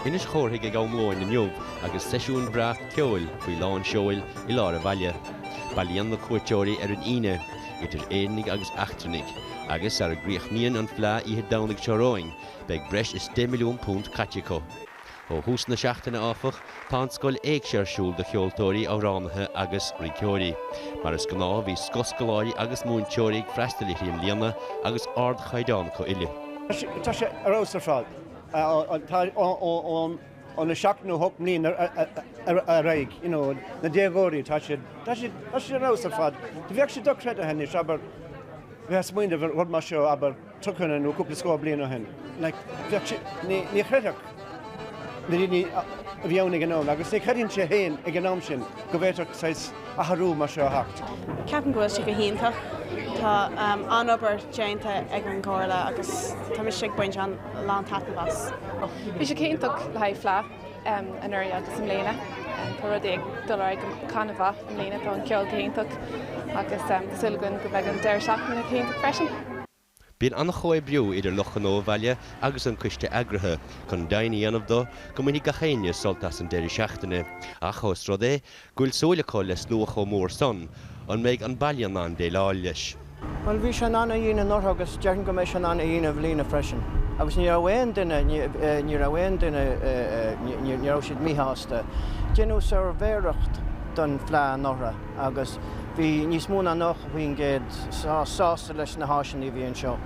Inis Córthaidh ag am lóin inniu agus seisiún breá ceoil faoi lán seoil i lár an bhaile. Bailíonn na cuairteoirí ar an Aoine, idir Éireannaigh agus eachtrannaigh, agus sara gcríochnaíonn an Fleá oíche Domhnaigh seo romhainn beidh breis is £10 milliún caite acu. Ó thús na seachtaine, áfach, Tá an Scoil Éigse ar siúl do cheoltóirí, amhránaithe agus rinceoirí. Mar is gnáth bhí scoth scoláirí agus múinteoirí ag freastail uirthi i mbliana agus ardchaighdeán acu uile. Tá sé ar fheabhas ar fad. Tá ón 7 nó 8 mbliana ar aghaidh, you know, na déagóirí, tá siad, tá siad, tá siad ar fheabhas ar fad. Bheadh sé dochreidithe anois, abair, bheith ag smaoineamh ar rud mar seo, abair, tríocha nó cúpla scór bliain ó shin. Ní chreidfeadh na daoine a bhí ann ag an am agus ní chreidfinnse féin ag an am sin go bhféadfadh saghas athrú mar seo a theacht. Ceapaim go bhfuil sé go hiontach. Tá an-obair déanta ag an gComhairle agus tá mise ag baint lántaitneamh as. Bhí sé go hiontach le haghaidh Fleadh. anuraidh agus i mbliana. Tá rudaí ag dul ar aghaidh go han-mhaith i mbliana, tá an ceol go hiontach agus tá súil againn go mbeidh an deireadh seachtaine go hiontach freisin. Bíonn an-chomhoibriú idir Lucht Gnó an Bhaile agus an Coiste Eagraithe chun deimhniú a dhéanamh de go mbainfidh gach éinne sult as an deireadh seachtaine ach, ós rud é go bhfuil súil acu le slua chomh mór san, an mbeidh an baile in ann déileáil leis? Bhuel, bhí sé in ann a dhéanamh anuraidh agus déarfainn go mbeidh sé in ann a dhéanamh i mbliana freisin agus ní raibh aon duine, ní raibh aon duine, ní raibh siad míshásta. Deineadh suirbhéireacht den Fleadh anuraidh agus bhí níos mó ná 90% sásta leis na háiseanna a bhí anseo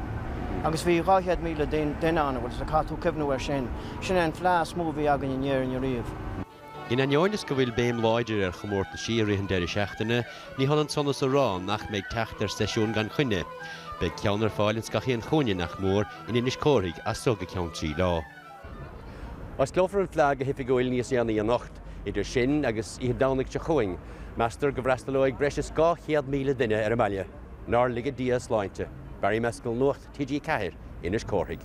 agus bhí 200,000 duine ann, bhuel, caithfidh tú cuimhniú ar sin? Sin é an Fleadh is mó a bhí againn in Éirinn ariamh. In ainneoin is go bhfuil béim láidir ar chomórtaisí i rith an deiridh seachtaine, ní hionann san is a rá nach mbeidh teacht ar seisiúin gan choinne. Beidh ceann ar fáil ins gach aon chúinne, nach mór, in Inis Córthaidh as so go ceann trí lá. Osclófar an fleá go hoifigiúil níos déanaí anocht. Idir sin agus oíche Domhnaigh seo chugainn, meastar go bhfreastalóidh breis is 200,000 duine ar an mbaile. Nár laga Dia a sláinte. Barry Mescal, Nuacht TG4, Inis Córthaidh.